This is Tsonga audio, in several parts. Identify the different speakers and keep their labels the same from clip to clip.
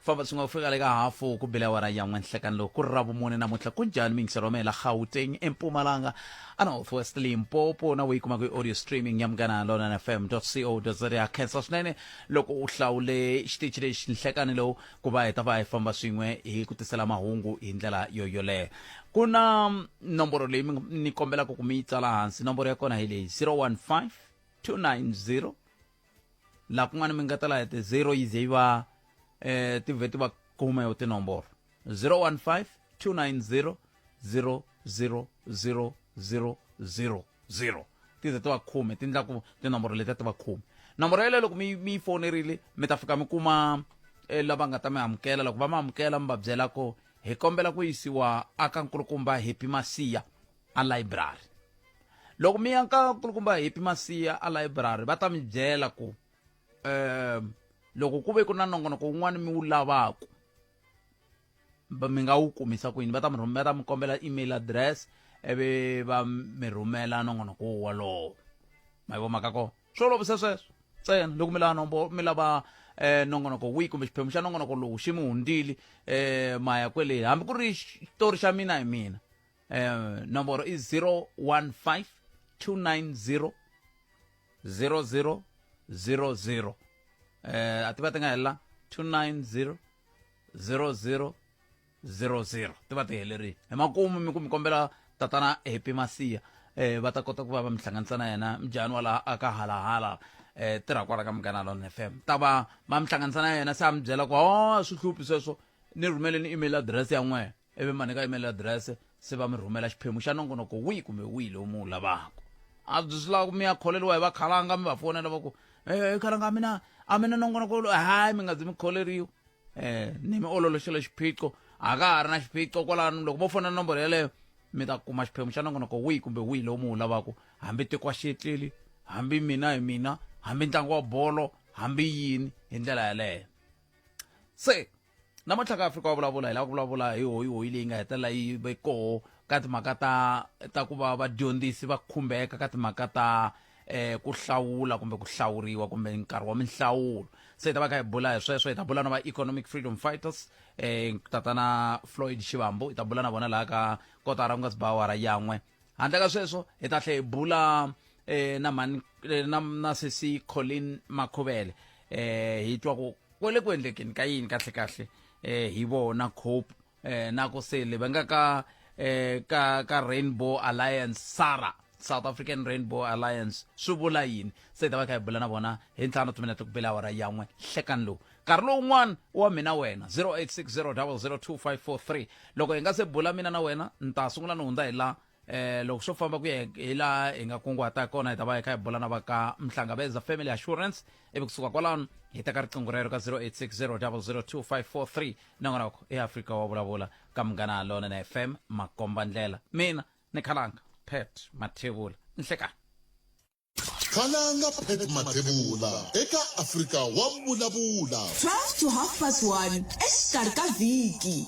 Speaker 1: famba swi nga ku fika le ka hafu ku bile awara ya n'we nhlekani loko ku ri ravumune namuntlha ku njhani mingiselo wa mela gauteng empumalanga a north west limpopo na yi kuma kwi-audio streaming ya munghana lona na fm co za ya khensa swinene loko u hlawule xitichi lexi nhlekani lowu ku va hi ta va hi famba swin'we hi ku tisela mahungu hi ndlela yo yoleyo ku na mm, nomboro leyi ni kombelaka ku mi yi tsala hansi nomboro ya kona hi leyi 015 290 laha kun'wana mi nga ta laha ti zero yi ze yi va eh ti vhe ti va khume yo tinomboro 015 290 00000 ti ze ti va khume ti endla ku tinomboro leti ti va khume nomboro yeleyo loko mi mi yi fonerile mi ta fika mi kuma eh, lava nga ta mi amukela loko va mi amukela mi va byela ku hi kombela ku yisiwa aka nkulukumba happy masiya a layiburari loko mi ya ka nkulukumba hepi masiya a layiburari va ta mi byela ku um loko ku ve ku na nongonoko wun'wana mi wu lavaku mi nga wu kumisa ku yini va ta mi rhumela ta mi kombela email address ivi va mi rhumela nongonoko wolowo ma yi vo maka kona swo olovisa sweswo ntsena loko mi lava nombo mi lava eh nongonoko wihi kumbe xiphemu xa nongonoko lowu xi mi hundzili eh maya kwele hambi ku ri xitori xa mina hi mina eh, nomboro i 015 290 0000 eh, a ti va ti nga helela 290 00 00 ti va ti helerile hi makumu mi ku mi kombela tatana happy masiya eh va ta kota ku va va mi hlanganisa na yena mjani wa laha aka halahala eh tirha kwala ka munghana lon f m ta va ma mi hlanganisa na yena se a mi byela ku o swi hluphi sweswo ni rhumeleni email address ya n'wena ivi ma nyika email adirese se va mi rhumela xiphemu xa nongonoko wihi kumbe wihi lowu mi wu lavaka a byi swi lava ku mi ya kholeriwa hi vakhalanga mi va fonela va ku e khalanga a mina a mina nongonoko lo hayi mi nga zi mi kholeriwa um ni mi ololoxela xiphiqo a ka ha ri na xiphiqo kwalano loko vo fonela nomboro yeleyo mi ta kuma xiphemu xa nongonoko wihi kumbe wihi lowu mi wu lavaka hambi tiko xietleli hambi mina hi mina hambi ntlangu wa bolo hambi yini hi ndlela yaleyo se namuntlha ka afrika wa vulavula hi lava ku vulavula hi hoyi hoyi leyi nga hetelela yi ve koho ka timhaka ta ta ku va vadyondzisi va khumbeka ka timhaka ta eh ku hlawula kumbe ku hlawuriwa kumbe nkarhi wa minhlawulo se hi ta va kha hi bula hi sweswo hi ta bula na va economic freedom fighters eh tatana floyd xivambu hi ta bula na vona laha ka kotara ku nga si ba awara yan'we handle ka sweswo hi ta tlhe hi bula eh na mhani eh, na na sesi Colin Makhuvele eh hi twa ku kwele ku endlekeni ka yini kahle kahle eh hi vona cope eh na ku sele va nga ka eh ka ka Rainbow Alliance Sara South African Rainbow Alliance swi vula yini se hi ta va kha hi bula na vona hi ntlhanu timinete ku bela awara yan'we hlekani lowu nkarhi lowun'wana wa mina wena 0860 loko hi nga se bula mina na wena ni ta sungula ni hundza hi laha Eh, loko swo famba ku ya hi laha hi nga kunguhata kona hi ta va hi kha hi bula na va ka mhlangabeza family assurance ivi kusuka kwalano hi teka riqingho rero ka 0860002543 nangonoko eafrika wa vulavula ka munghana lona na fm makomba ndlela mina ni khalanga pet mathevula nhlekani
Speaker 2: Khalanga Pep Mathebula eka Afrika wa vulavula. 12 to half
Speaker 3: past 1 exikarhi ka vhiki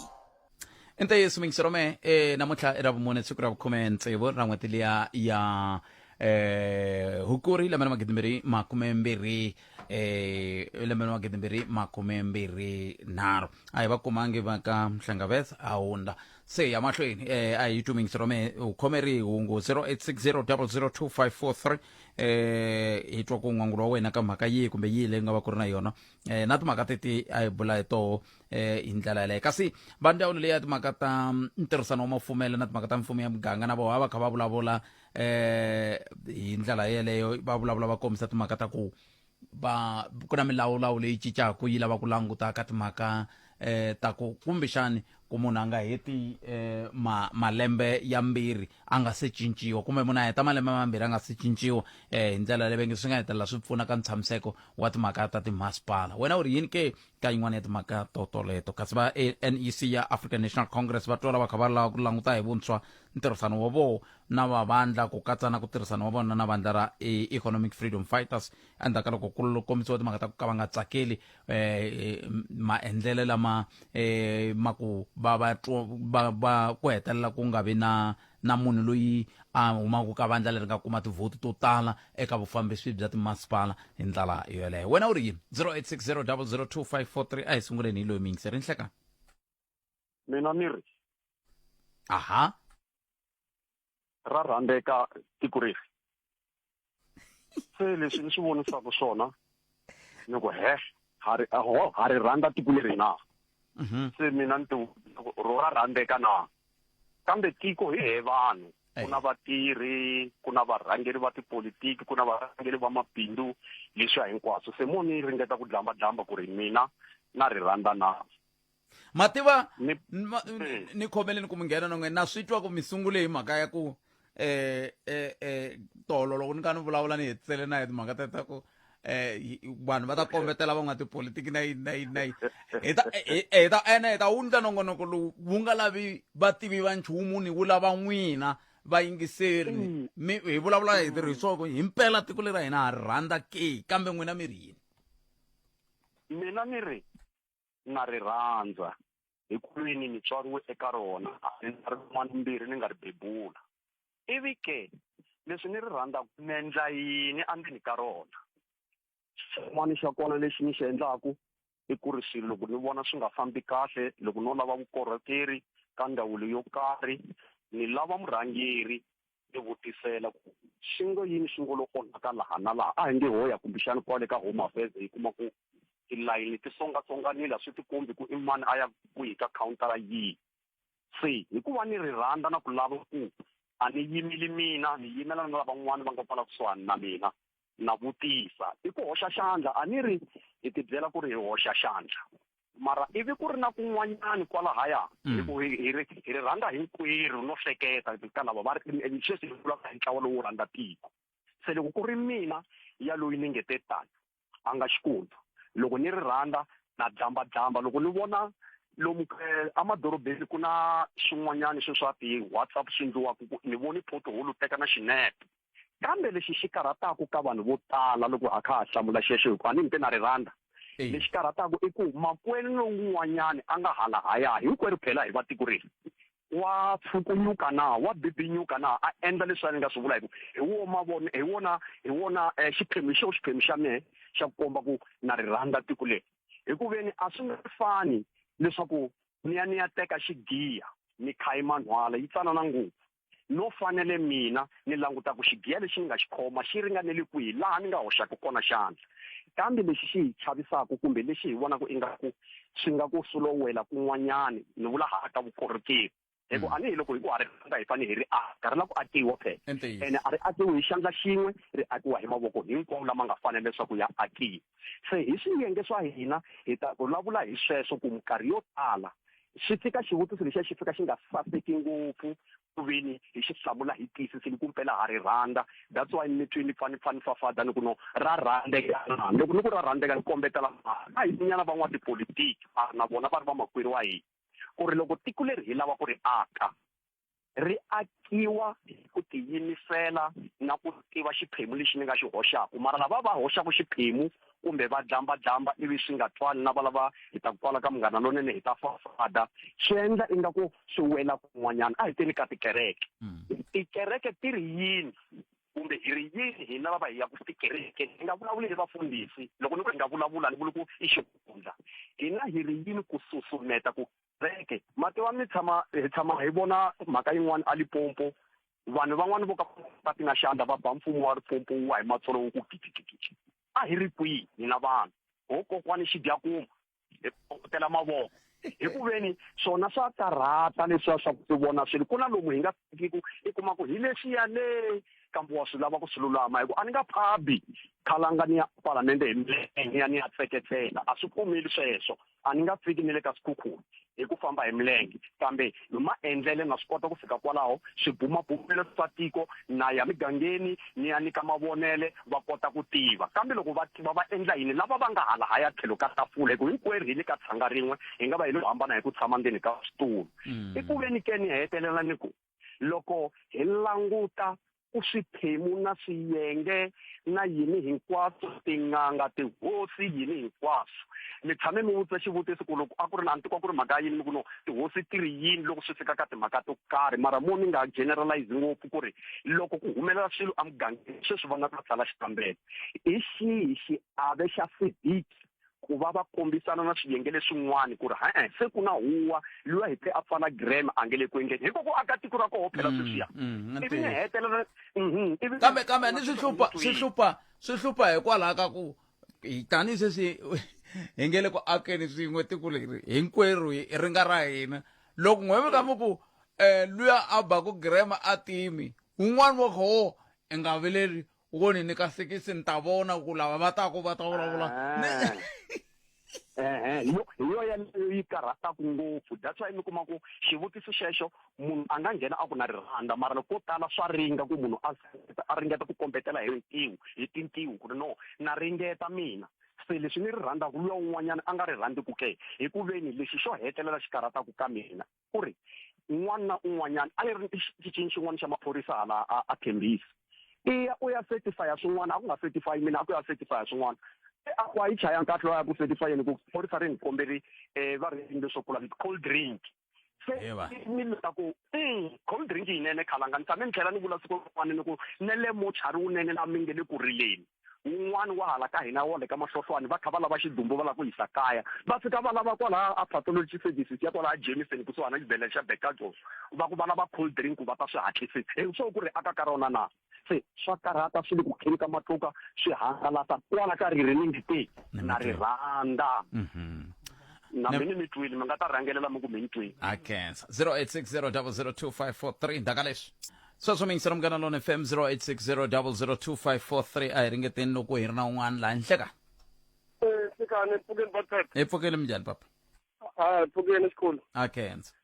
Speaker 3: i
Speaker 1: ntiyiso mingiserome e eh, namuntlha i ra vumune siku ra vukhume ntsevu ra n'hweti liya ya eh hukuri lembe na magidi mbirhi makume mbirhi eh lembe na magidi mbirhi makume mbirhi nharhu a hi va kumangi va ka mhlangaveth a hundla se ya mahlweni eh, a hi tuming sirome u khomeri hungu 0860002543 eh, hi twa ku n'wangulo wa wena ka mhaka yihi kumbe yihi leyi nga va ku ri na yona eh, na timhaka teti a hi bula hi toho eh, hi ndlela yaleyo kasi va ndzawulo leyi ya timhaka ta mm, ntirhisano wa mafumelo na timhaka ta mfumo ya muganga na voho a va kha va vulavula eh, hi ndlela yeleyo va vulavula va kombisa timhaka ta ku va ku na milawulawu leyi cincaka yi lava ku languta ka timhaka eh ta ku kumbexani ku munhu a nga heti eh ma malembe ya mbirhi a nga se cinciwa kumbe munhu a heta malembe mambirhi a nga se cinciwa eh hi ndlela leyi venge swi nga hetelela swi pfuna ka ntshamiseko wa timhaka ta timasipala wena u ri yini ke ka yin'wana ya timhaka to toleto kasi va nec ya african national congress va twa lava kha va lava ku languta hi vuntshwa ntirhisano wa vona na vavandla ku katsa na ku tirhisana wa vona na vandla ra e, economic freedom fighters endzhaku ka loko ku kombisiwa timhaka ta ku ka va nga tsakeli um maendlelo lama um ma ku va va va ku hetelela ku nga vi na na munhu loyi a humaka ka vandla leri nga kuma tivhoti to tala eka vufambisi bya timasipala hi ndlela yoleyo wena u ri yini 0860 002 543 a hi sunguleni hi loyi miyingiseri nhlekani
Speaker 4: mina ni ri aha ra rhandzeka tiko reri se leswi ni swi vonisaka swona ni ku he ha ri ha ri rhandza tiko leri na mhm. se mina ni ti ro ra rhandzeka na kambe tiko hi he vanhu ku na vatirhi ku na varhangeri va tipolitiki ku na varhangeri va mabindzu leswiya hinkwaswo se mo ni ringeta ku dlamba dlamba ku ri mina na ri rhandza na ma tiva
Speaker 1: ni, ma, ni, ni khomeleni ku mi nghena na n'wena na swi twa ku mi sungule hi mhaka ya ku eh eh eh tolo loko ni ka ni vulavula ni hetisele na hi timhaka ta ta ku eh vanhu va ta kombetela van'wana tipolitiki na yini na yini na yini hi ta hi ta ene hi ta wu nyika nongonoko lowu wu nga lavi vativi va nchumu ni wu lava n'wina vayingiseri mm. mi hi vulavula hi tirhisoko hi mpela tiko leri ra hina ha rhandza ke kambe n'wina mi ri yini
Speaker 4: mina ni ri nga ri rhandza hi kwini ni tswariwe eka rona a ni na rin'wana mbirhi ni nga ri bebula ivi ke leswi ni ri rhandzaka ni endla yini endzeni ka rona xin'wana xa kona lexi ni xi endlaku i ku ri swilo loko ni vona swi nga fambi kahle loko no lava vukorhokeri ka ndhawu leyo karhi ni lava murhangeri ni vutisela ku swi ngo yini swi ngo lo onhaka laha na laha a hi nge ho ya kumbexani kwale ka home affairs hi kuma ku tilayini ti tsongatsonganile a swi ti kombi ku i mani a ya kwihi ka khawuntara yihi se hikuva ni ri rhandza na ku lava ku a ni yimeli mina ni yimela na lavan'wana va nga kwala kusuhani na mina na vutisa i ku hoxa xandla a ni ri hi tibyela ku ri hi hoxa xandla mara ivi ku ri na kun'wanyani kwalahaya mm. hi ku hi ri hi ri rhandza hinkwerhu no hleketa ka lava va ri sweswi hi vulaka hi ntlawa lowu rhandza tiko se loko ku ri mina ya loyi ni nge te tani a nga xikundu loko ni ri rhandza na dzamba dzamba loko ni vona lomu eh, emadorobeni ku na swin'wanyana swe swa ti-whatsapp swi endliwaka ku ni voni photoholu teka na xinepe kambe lexi xi karhataka ka vanhu vo tala loko a kha a hlamula xexo hikuva ni mpe na ri rhandza lexi karhataka i ku makwenu lowun'wanyana a nga halahaya hinkwerhu phela hi vatiko reli wa pfukunyuka na wa bibinyuka na a endla leswi a ni nga swi vula hi ku hi wo mavona hi wona hi wona eh, xiphemu xo xiphemu xa mehe xa ku komba ku na ri rhandza tiko leri hi ku veni a swi nga fani leswaku ni ya ni ya teka xigiya ni khayi manhwala yi tsanana ngopfu no fanele mina ni languta ku xigiya lexi ni nga xi khoma xi ringanele kwihi laha ni nga hoxaka kona xandla kambe lexi xi hi chavisaka kumbe lexi hi vonaka ingaku swi nga ku sulowela kun'wanyani ni vula ha ta vukorhokeri hi ku mm. anihi loko hi ku ha ri rhandza hi fanele hi ri aka ri la ku akiwa phela ene a ri akiwi hi xandla xin'we ri akiwa hi mavoko hinkwawo lama nga fanele leswaku ya akiwa se hi swiyenge swa hina hi ta vulavula hi sweswo ku minkarhi yo tala swi fika xivutiso lexiya xi fika xi nga saseki ngopfu ku veni hi xi hlamula hi tiyisisile ku mpela ha ri rhandza that's why ni twi ni pfa ni pfa ni fafada ni ku no ra rhandzeka na loko ni ku ra rhandzeka ni kombetela a hi nyana van'watipolitiki na vona va ri vamakwerhu wa hina ku ri loko tiko leri hi lava ku ri aka ri akiwa ku tiyimisela na ku tiva xiphemu lexi ni nga xi hoxaku mara lava va hoxaku xiphemu kumbe va dlambadlamba ivi swi nga twani na valava hi ta ku twala ka munghana lonene hi ta fafada swi endla ingaku swi wela kun'wanyana a hi teni ka tikereke hmm. tikereke ti ri yini kumbe hi ri yini hina lava hi yaku tikereke hi nga vulavuli hi vafundhisi loko ni ku hi nga vulavula ni vuli ku i xihundla hina hi ri yini ku susumeta ku veke mati wa mi tshama hi tshama hi vona mhaka yin'wana a lipompo vanhu van'wani vo ka va ti nga xandla va ba mfumo wa ripompo wu wa hi matsolo wu ku gidigidigi a hi ri kwihi hina vanhu ho kokwani xidyakuma hi kokotela mavoko hi ku veni swona swa karhata leswiya swa ku tivona swilo ku na lomu hi nga fikiku i kuma ku hi lexiya le kambe wa swi lava ku swi lulama hi ku a ni nga phabi khalanga ni ya palamende hi milenge ni ya ni ya tseketsela a swi pfumeli sweswo a ni nga fiki ni le ka swikhukhula hi ku famba hi milenge kambe hi maendlele na swi kota ku fika kwalaho swibumabumelo swa tiko na ya migangeni ni ya nyika mavonele va kota ku tiva kambe loko va tiva va endla yini lava va nga hala haya tlhelo ka tafula hi ku hinkwerhu hi le ka tshanga rin'we hi nga va hi lo hambana hi ku tshama ndzeni ka switulu mm. i ku ve ni ke ni hetelela ni ku loko hi languta ku swiphemu na swiyenge na yini hinkwaswo tin'anga tihosi yini hinkwaswo mi tshame mi vutisa xivutiso ku loko a ku ri na antiko a ku ri mhaka yini mi ku no tihosi ti ri yini loko swi fika ka timhaka to karhi mara mo ni nga generalize ngopfu ku ri loko ku humelela swilo emugangeni sweswi va nga ta tsala xikambelo hi xihi xiave xa sidiki ku va va kombisana na swiyenge leswin'wana ku ri ha eh, se ku na huwa luya hi te a pfala grama a nge le ku endleni hikoku aka tiko ra koho phela mm, sweswiya mm, ivi ni hetelela mhm, kambe
Speaker 1: kambe ni swi hlupha swi hlupha swi hlupha hikwalaho ka ku tanihi sweswi hi nge le ku akeni swin'we tiko leri hinkwerhu ri nga ra hina loko n'wevi ka mi ku um eh, luya a baku grama a timi wun'wana wa koho i nga vileli u voni ni ka sekisi ni ta vona ku lava va taku va ta vulavula ah. ehe
Speaker 4: hi yo yaleyo yi karhataku ngopfu that's why mi kuma ku xivutiso xexo munhu a nga nghena a ku na rirhandza mara loko ko tala swa ringa ku munhu a a ringeta ku kombetela hi ntiwu hi tintiwu ku ri no na ringeta mina se leswi ni ri rhandzaka luya un'wanyana a nga ri rhandzi ku ke hi ku veni lexi xo hetelela xi karhataku ka mina ku ri un'wana na un'wanyana a yi ri xicini xin'wana xa maphorisa hala a a khembisi i ya u ya certifya swin'wana a ku nga certify mina a ku ya certifya swin'wana e, a ku a yi chaya nkahle loya ku certifyeni ku phorisa ri ni kombeli um e, va ri leswo kula cold drink se ni lula ku mm, cold drink yinene khalanga ni tshame ni tlhela ni vula siku rin'wana ni ku ne le mochari wunene la mi nge le ku rileni wun'wana wa hala ka hina wa le ka mahlohlwani va kha va lava xidumbu va lava ku yisa kaya va fika va lava kwalaha a pathology services ya kwalaha jamison kusuhana na xibedhlele xa becadol va ku va lava cold drink ku va ta swi hatlisisa hi swo ku ri aka ka rona na se swa karhata swi le ku kheni ka matluka swi hangalasa kwala ka ririningi te na ri rhandza mhm. na mini mi twile mi nga ta rhangelela mi ku mi ni twile a kensa 0860 002 543
Speaker 1: ndaka leswi swa swo mingisela munghana lona fm 0860002543 a hi ringeteni loko hi ri na un'wana laha henhla ka Eh,
Speaker 5: sikane mpfukeni batata hi pfukele minjhani papa
Speaker 1: ha mpfukeni
Speaker 5: xikhulu a khensa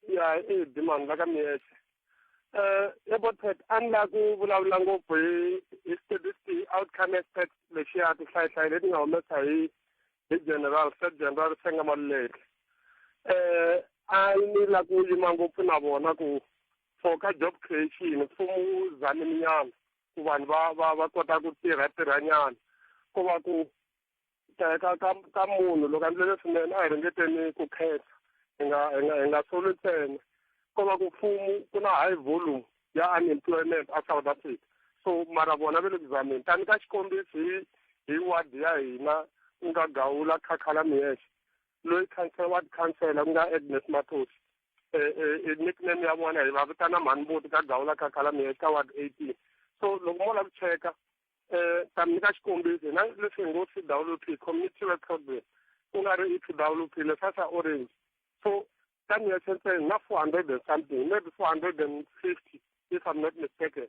Speaker 1: ya
Speaker 5: i dimani la ka miyexe um ya botet a ni la ku vulavula ngopfu hi hi statistic outcome expect lexiya tihlayihlayi leti nga humesa hi hi general state general senga maluleke um a ni la ku yima ngopfu na vona ku for ka job creation mfumo wu zaminyana ku vanhu va va va kota ku tirha tirhanyana ko va ku ka ka ka ka munhu loko a ndlele swinene a hi ringeteni ku khetha hi nga hi nga hi nga soli ntsena ko va ku mfumo ku na high volume ya unemployment a South Africa so mara vona va le ku zameni tani ka xikombiso hi hi ward ya hina ku nga Gawula Khakhala Miyexe loyi khansela wa tikhansela ku nga Agnes Mathosi eh, eh, eh, nickname ya vona hi va vitana mhanimbuti ka gawula ka khalamiya eka ward eighteen so loko mo lava ku cheka um ta mi nyika xikombiso hina leswi hi ngo c w p community web program ku nga ri i c w p leswa swa orange so ka niya sentse na four hundred and something maybe four hundred and fifty if i'm not mistaken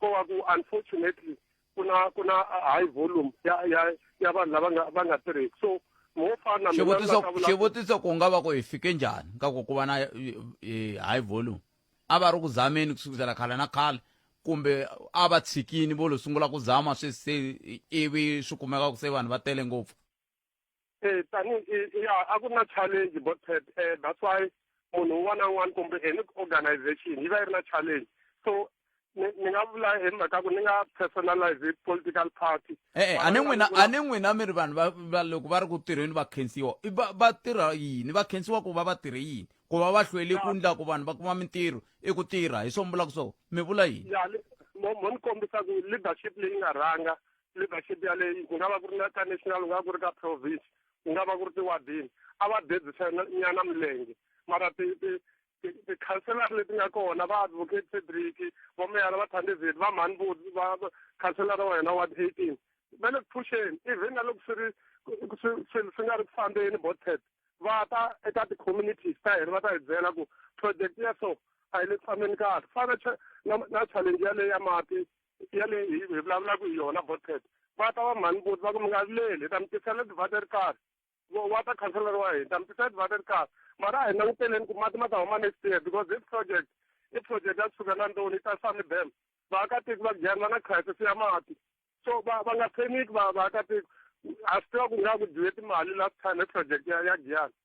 Speaker 5: ko va ku unfortunately ku na ku na high volume ya ya ya vanhu lava nga va nga tirheki so mo fana xivutiso xivutiso
Speaker 1: ku nga va ku hi fike njhani ka ku ku va na high volume a va ri ku zameni ku sukisela khale na khale kumbe a va tshikini vo lo sungula ku zama swi se ivi swi kumeka ku se vanhu va tele ngopfu eh tani ya
Speaker 5: a ku na challenge but eh that's why munhu un'wana na un'wana kumbe any organization yi va yi ri na challenge so ni nga vula hi mhaka ku ni nga personalize political party e-e eh, eh, a ni n'wina a
Speaker 1: ni n'wina mi ri vanhu va va loko va ri ku tirheni va khensiwa va va tirha yini va khensiwa ku va va tirhe yini ku va va hlweli ku ndla ku vanhu va kuma mintirho i ku tirha hi swo mi vulaka swo mi vula yini ya mo ni
Speaker 5: kombisa ku leadership leyi nga rhanga leadership yaleyi ku nga va ku ri na ka national ku nga va ku ri ka province ku nga va ku ri tiwadini a va dedzisa nyana milenge mara ti ti tikhanselara leti nga kona va advocate cedric vameyara va thandezeti va mhani vo va khanselara wa hina ward eighteen va le ku phuxeni even na loko swi ri swilo swi nga ri ku fambeni botet va ta eka ti-communities ta hina va ta hi byela ku project ya so a yi le ku fambeni kahle fana na na challenge yaleyo ya mati ya leyi hi hi vulavulaka hi yona botet va ta va mhani boti va ku mi nga vileli hi ta mi tisela ti-water card Wa- water councillor wa hina ta mi tisela ti-water card mara a hi languteleni ku mati ma ta huma next year because this project i project ya kusuka na ndoni yi ta sami dam vaakatiko va kujani va na crisis ya mati so va va nga pheniki va vaakatiko a swi tiva ku nga ku dyiwe timali last time hi project ya ya giyani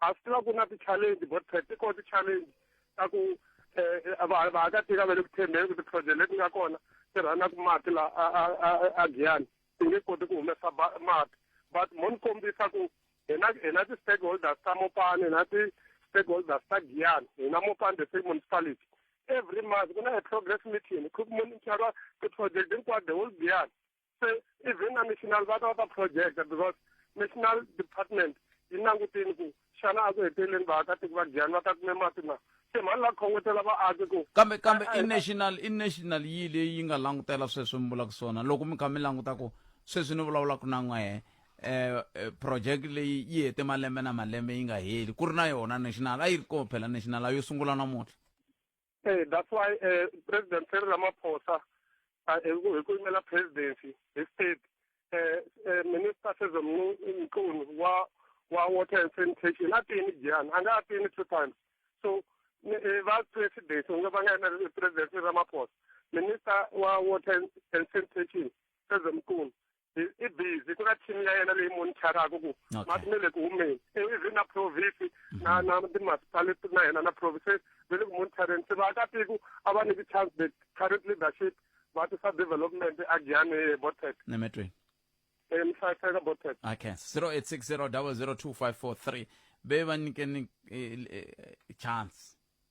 Speaker 5: a swi tiva ku na ti-challenge but ti kona ti-challenge ta ku um vaakatiko va le ku tshembeni ku ti-project leti nga kona ti rhanaku mati la a giyani ti nge koti ku humesa mati but mo ni kombisa ku hina hina ti-stakeholders ta mopani hina ti-stakeholders ta giyani hina mopani the same municipality every month ku na a progress meeting ku monitara ti-project hinkwato the whole giyani se even na national va ta va ta project because national department yi langutini ku xana a ku heteleleni vaakatiko va dyani va ta kume mati na se mhani la khongotela vaaki ku kambe kambe i national
Speaker 1: i national yi leyi yi nga langutela sweswi mi vulaka swona loko mi kha mi languta ku sweswi ni vulavulaka na n'wehe um project leyi yi hete malembe na malembe yi nga heli ku ri na yona national a yi ri kona phela national a yo sungula namuntlha Eh, that's
Speaker 5: why eh, president Cyril Ramaphosa ah, eh, ku- hi ku yimela presidency hi state eh, eh, minister Sezo Mnu- Mchunu wa wa water and sanitation a tini jani a nga a tini two times so ni- eh, va president u nga va nga yimela president Cyril Ramaphosa minister wa water and- and sanitation Sezo Mchunu i busy ku na team ya yena leyi monitoraka ku mati me le ku humeni ivi na province na mhm. na ti-municipality na yena na province ve le ku monitoreni se vaakatiko a va niki chance the current leadership va tisa development a giyane botet nemetweni
Speaker 1: emhlaseka
Speaker 5: botet
Speaker 1: okay 0860 002 543 be va nyikeni eh, eh, chance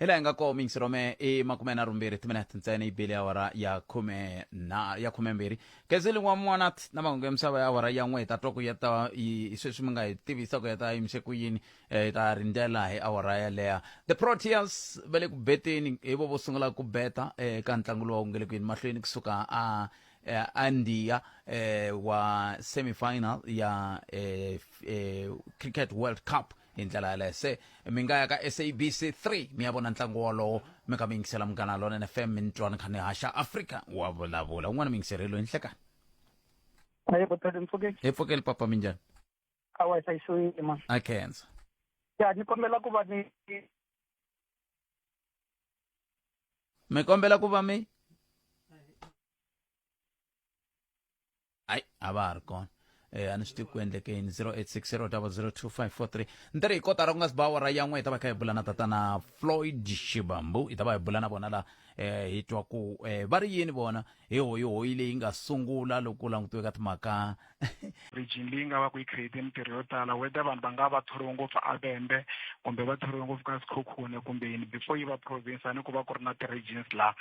Speaker 3: hi laha hi nga
Speaker 1: kona mix rome i makume na rumbirhi timinete ntsena yi bile ya awara ya khume na ya khumembirhi gezeli wa mwanat na mahungu ya misava ya awara ya n'we hi ta twa ku ya ta yi- sweswi mi nga hi tivisa ku ya ta yimise ku yini eh, hi ta rindzela hi awara yaleya the proteas va le ku beteni hi vo vo sungula ku beta eh, ka ntlangu lowu nge le ku yini mahlweni kusuka a eh, andiya eh, wa semifinal ya eh, f- eh, cricket world cup hi ndlela yaleyo se mi nga ya ka sabc 3 mi ya vona ntlangu wolowo mi ka mi yingisela munghana lonene fm mi ni twa ni kha ni haxa afrika wa vulavula un'wana mi yingiserelo hi nhlekani
Speaker 6: Hayi kutani mpfuke hi pfukeli papa mi njhani
Speaker 1: a wa
Speaker 6: hlayisiwile ma. a khensa Ya
Speaker 1: ni
Speaker 6: kombela ku va ni
Speaker 1: mi kombela ku va mi hayi a va ha ri kona eh a ni swi tivi ku endleke yini 0860002543 ntirho hi kotara ku nga si ba awara yan'we hi ta va kha hi bula na tatana floyd xibambu hi ta va hi bula na vona la eh hi twa ku eh va ri yini vona hi hoyihoyi leyi nga sungula loko ku langutiwe ka timhaka region leyi
Speaker 7: nga va ku yi create mintirho yo tala whether vanhu va nga va thoriwe ngopfu abembe kumbe va thoriwe ngopfu ka sikhokhune kumbe yini before yi va province a ni ku va ku ri na ti-regions laha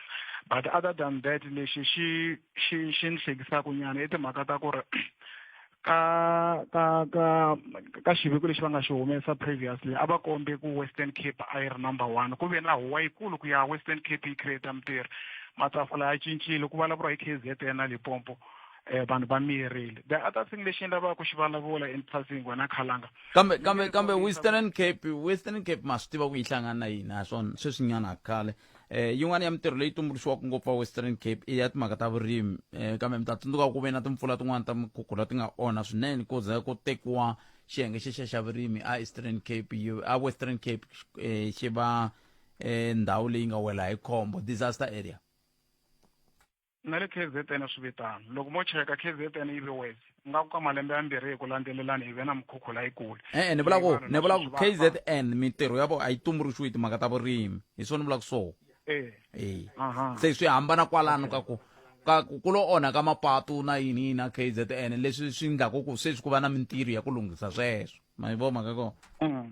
Speaker 7: but other than that lexi xi xi xi ni hlekisaka nyana i timhaka ta ku ri ka ka ka ka xiviko lexi va nga xi humesa previously a va kombe ku western cape a yi ri number one ku ve na huwa yikulu ku ya western cape yi create mintirho matafula ya cincile ku vulavuriwa hi k z n na limpopo eh, vanhu va miyerile the other thing lexi ni lavaka ku xi vulavula in passing wena khalanga kambe kambe kambe
Speaker 1: western cape western cape ma swi tiva ku yi hlangana na yini ha swona sweswinyana khale eh yin'wana ya mintirho leyi tumbuluxiwaka ngopfu wa western cape i ya timhaka ta vurimi eh kambe mi ta tsundzuka ku ve na timpfula tin'wana ta mikhukhula ti nga onha swinene ku za ku tekiwa xiyenge xexa xa vurimi a eastern cape a western cape eh, xi va eh, ndhawu leyi nga wela hi khombo disaster area
Speaker 7: na le KZN swi vitana loko mo cheka KZN yi ve wes nga ku ka malembe yambirhi hi ku landzelelana hi ve na mikhukhu layikulu e-e ni vula ku ni
Speaker 1: vula ku KZN mintirho ya vona a yi tumbuluxiwi timhaka ta vurimi hi swona ni vulaka swona e e se swi hambana kwalano ka ku ka ku lo onha ka mapatu na yini yini na KZN leswi swi endlaka ku sweswi ku va na mintirho ya ku lunghisa sweswo ma yi vona mhaka kona mm.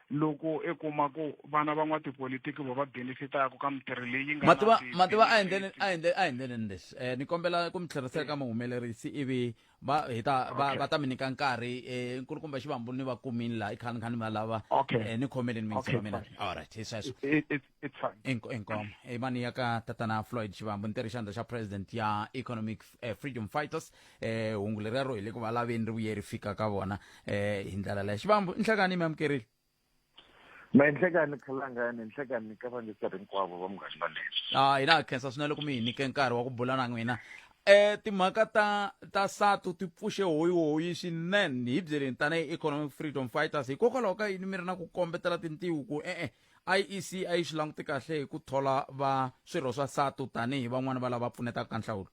Speaker 7: loko e kuma ku vana van'watipolitiki vo va benefitaka ka mitirho leyi nga mativa mativa
Speaker 1: a endleni a endleni a endleni leswi um ni kombela ku mi tlherisela ka muhumelerisi ivi va hi ta va va ta mi nyika nkarhi um nkulukumba xivambulu ni va kumini laha i khani khani va lava um ni khomeleni mingiselo mina all right hi sweswo it's fine
Speaker 7: Inko- inkomo i mani
Speaker 1: ya ka tatana floyd xivambu ni tirhixandla xa president ya economic eh, freedom fighters eh, hungu lerero hi le ku va laveni ri vuye ri fika ka vona eh, hi ndlela leyo xivambu inhlakani mi amukerile ma
Speaker 8: inhlekani khalangani inhlekani ka vangiseri hinkwavo va munghani va leswi a hina ha khensa swinene loko
Speaker 1: mi hi nyike nkarhi wa ku bula na n'wina eh timhaka ta ta satu ti pfuxe hoyihoyi swinene hi byeleni tanihi economic freedom fighters hikokwalaho ka yini mi ri na ku kombetela tintiwu ku e-e iec a yi swi languti kahle hi ku thola va swirho swa satu tanihi van'wani va lava pfunetaka ka nhlawulo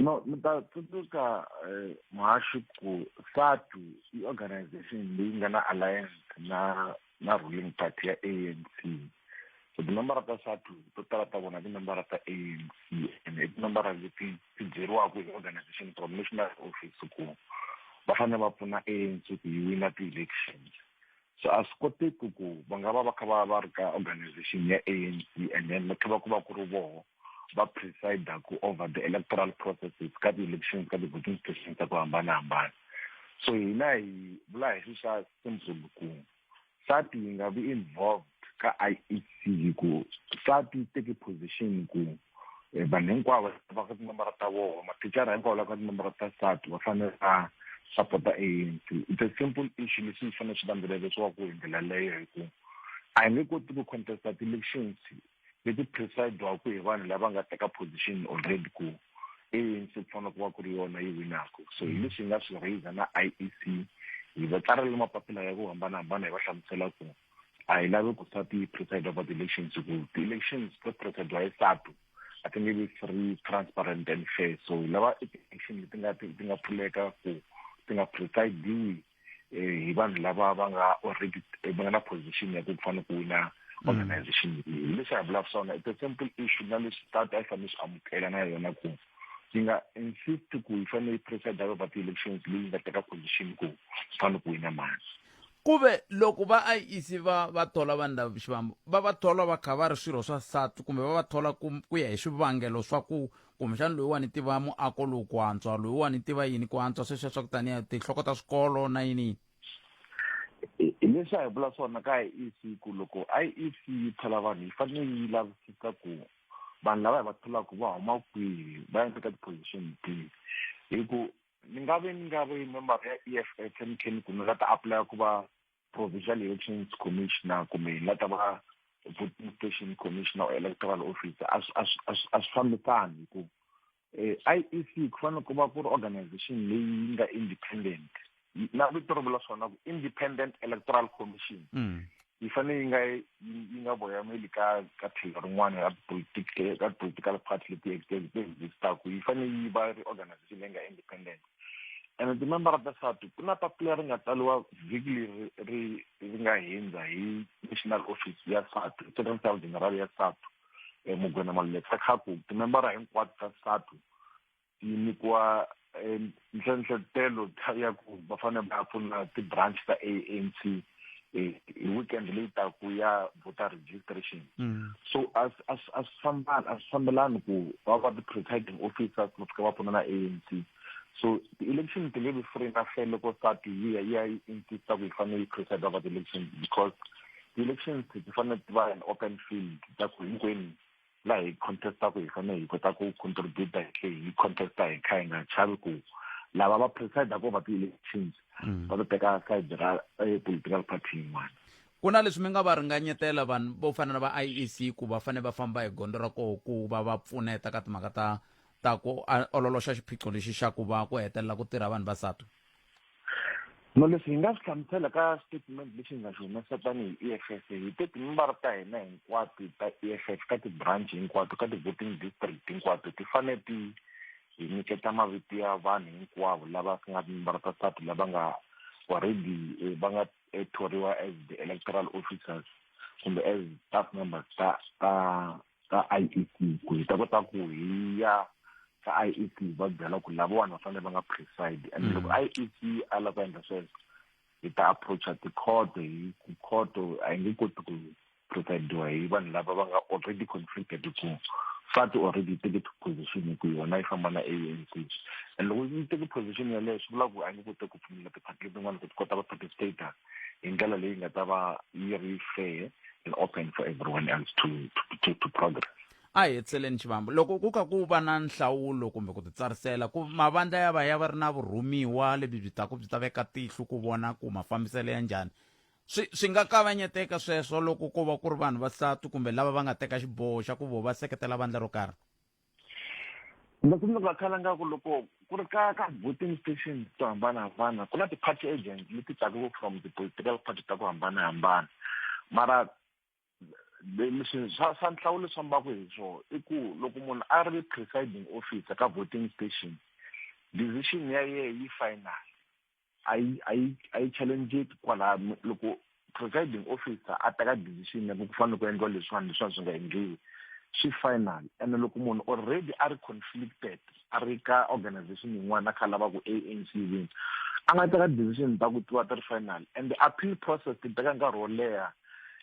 Speaker 8: no ni ta tsundzuka eh, muhaxi ku satu i organization leyi nga na alliance na na ruling party ya a n c so tinambara ta satu to tala ta vona tinambara ta a n c and i tinambara leti ti byeriwaka hi organization from national office ku va fanele va pfuna a n c ku yi wina ti-elections so a swi koteki ku va nga va va kha va va ri ka organization ya anc and then va kha va ku va ku ri voho va presidaku over the electoral processes ka ti-elections ka ti-voting stations ta ku hambanahambana so hina hi vula hi swi swa simple ku sati yi nga vi involved ka i e c hi ku sati yi teke position ku e vanhu hinkwavo va ka tinomboro ta vona mathicara hinkwavo la ka tinomboro ta sati va fanele va sapota anc it's a simple issue leswi ni fanele swi landzelelisiwaku hi ndlela leyo hi ku a hi nge koti ku contesta ti-elections leti presidwaku hi vanhu lava nga teka position already ku anc ku fanele ku va ku ri yona yi winaka so hi leswi hi nga swi raiser na i e c hi va tsarile mapapila ya ku hambanahambana hi va hlamusela ku a hi lavi ku sa ti preside over the elections ku ti elections to preside hi satu a ti nge vi free transparent and fair so hi lava election leti nga ti nga pfuleka ku ti nga presidiwi eh, hi vanhu lava va nga already eh, va nga na position ya ku fanele ku wina mm. organization leyi leswi hi vulaka swona it's a simple issue na leswi tata a yi fanele swi amukela na yona ku yi nga insist ku yi fanele yi preside over ti-elections leyi nga teka position ku swi fanele ku wina mani ku ve
Speaker 1: loko va IEC va va thola vanhu lava xivambo va va thola va kha va ri swirho swa satu kumbe va va thola ku ku ya hi swivangelo swa ku kumbexana loyiwani tiva muako lowu ku antswa loyiwani tiva yini ku antswa sweswiya swa ku taniya tinhloko ta swikolo na yini yini
Speaker 8: hi leswi a hi vula swona ka IEC ku loko IEC yi thola vanhu yi fanele yi lavisisa ku vanhu lava hi va tholaka va huma kwihi va ya eka ti-position tihi hi ku ni nga ve ni nga ve member ya e f f ni khe ni ku ni nga ta apply ku va provincial elections commissioner kumbe hi nga ta va voting station commissioner or electoral officer a swi- a swi- a swi- a swi fambisani hi ku eh, i e c ku fanele ku va ku ri organization leyi yi nga independent Yi- na vito ri vula swona ku independent electoral commission Mm. yi fanele yi nga yi nga voyameli ka ka tlhelo rin'wana ra political ka political party leti existaka yi fanele yi va ri organization leyi nga independent and timembara ta sati ku na papila ri nga tsaliwa vhiki leri ri ri nga hundza hi national office ya satu second town general ya satu um eh, mugwena malulekisa khaku timembara hinkwato ta satu yi nyikiwa eh, nhlenhletelo ya ku va fanele va pfuna ti-branch ta a n c eh, hi weekend leyi taku ya voter registration mm. so a swi fambani a swi fambelani ku va va ti-presiding officers va fika va pfuna na a n c so ti-election ti nge vi free na hle loko sat yi ya yi ya yi insista ku yi fanele yi preside va ti-election because ti-elections ti fanele ti va an open field ta ku hinkwenu la hi contestaku hi fanele hi kota ku contributa hi tlhe hi contesta hi kha hi nga chavi ku lava va preside ko va ti-elections mm. va to teka side ra eh, political party yin'wana ku na leswi mi nga
Speaker 1: va ringanyetela vanhu vo fana na va iec ku va fanele va famba hi gondzo ra koho ku va va pfuneta ka timhaka ta ta ku ololoxa xiphiqo lexi xa ku va ku hetelela ku tirha vanhu vasatu no
Speaker 8: leswi hi nga swi hlamusela ka statement lexi hi nga xi humesa tanihi e f f hi te timimbara ta hina hinkwato ta e f f ka ti-branch hinkwato ka ti-voting district hinkwato ti fanele ti hi nyiketa mavito ya vanhu hinkwavo lava ku nga timimbara ta sati lava nga already eh, va nga eh, thoriwa as the electoral officers kumbe as staff members ta ta ka IEC ku hi ta kota ku hi ya ka IEC va byela ku lavawani va fanele va nga preside and loko mm. IEC a lava ku endla sweswo hi ta approacha tikhoto hi ku khoto a yi nge koti ku presidiwa hi vanhu lava va nga already conflicted ku fati already teke position ku yona yi famba na ANC and loko yi teke position yaleyo swi vula ku a yi nge koti ku pfumela ti-party letin'wana ku ti kota va participator hi ndlela leyi nga ta va yi ri fair and open for everyone else to, to, to, to progress a hi hetseleni
Speaker 1: xivambo loko ku ka ku va na nhlawulo kumbe ku titsarisela ku mavandla ya va ya va ri na vurhumiwa lebyi byi taku byi ta veka tihlo ku vona ku mafambiselo ya njhani swi swi nga kavanyeteka sweswo loko ko va ku ri vanhu vasati kumbe lava va nga teka xiboho xa ku vo va seketela vandla ro karhi
Speaker 8: loko mi nga khala nga ku loko ku ri ka ka voting stations to hambanahambana ku na ti-party agents leti taku from ti-political party ta ku hambanahambana mara leswi swa swa nhlawulo swa mbaku hi swona i ku loko munhu a ri presiding officer ka voting station decision ya yehe yi final a yi a yi a yi challengeki kwalaha mi- loko presiding officer a teka decision ya ku ku fanele ku endliwa leswiwani leswiwani swi nga endliwi swi final ene loko munhu already a ri conflicted a ri ka organization yin'wana a kha a lava ku anc win a nga teka decision ta ku tiwa ti ri final and the appeal process ti teka nkarhi wo leha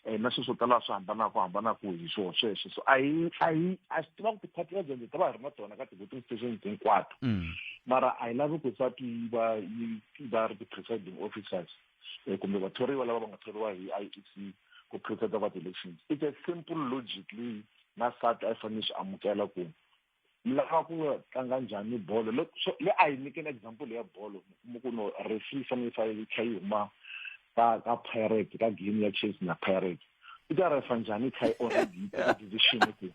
Speaker 8: um na sweswo tala swi hambanaka hambanaka hi swona sweswo so a hi a hi a swi tiva ku ti-party agenda ta va hi ri na tona ka ti-voting stations hinkwato mm. mara a hi lavi ku sa ti va yi va ri ti-presiding officers um kumbe vathoriwa lava va nga thoriwa hi i e c ku presida va ti-elections it's a simple logic leyi na sat a yi fanele swi amukela ku mi lava ku tlanga njhani bolo le so le a hi nyikeni example ya bolo mi ku no referee yi fanele yi fa- yi kha yi huma ka ka pirate ka game ya chase na pirate i ta refa njhani yi kha yi already yi teke decision ku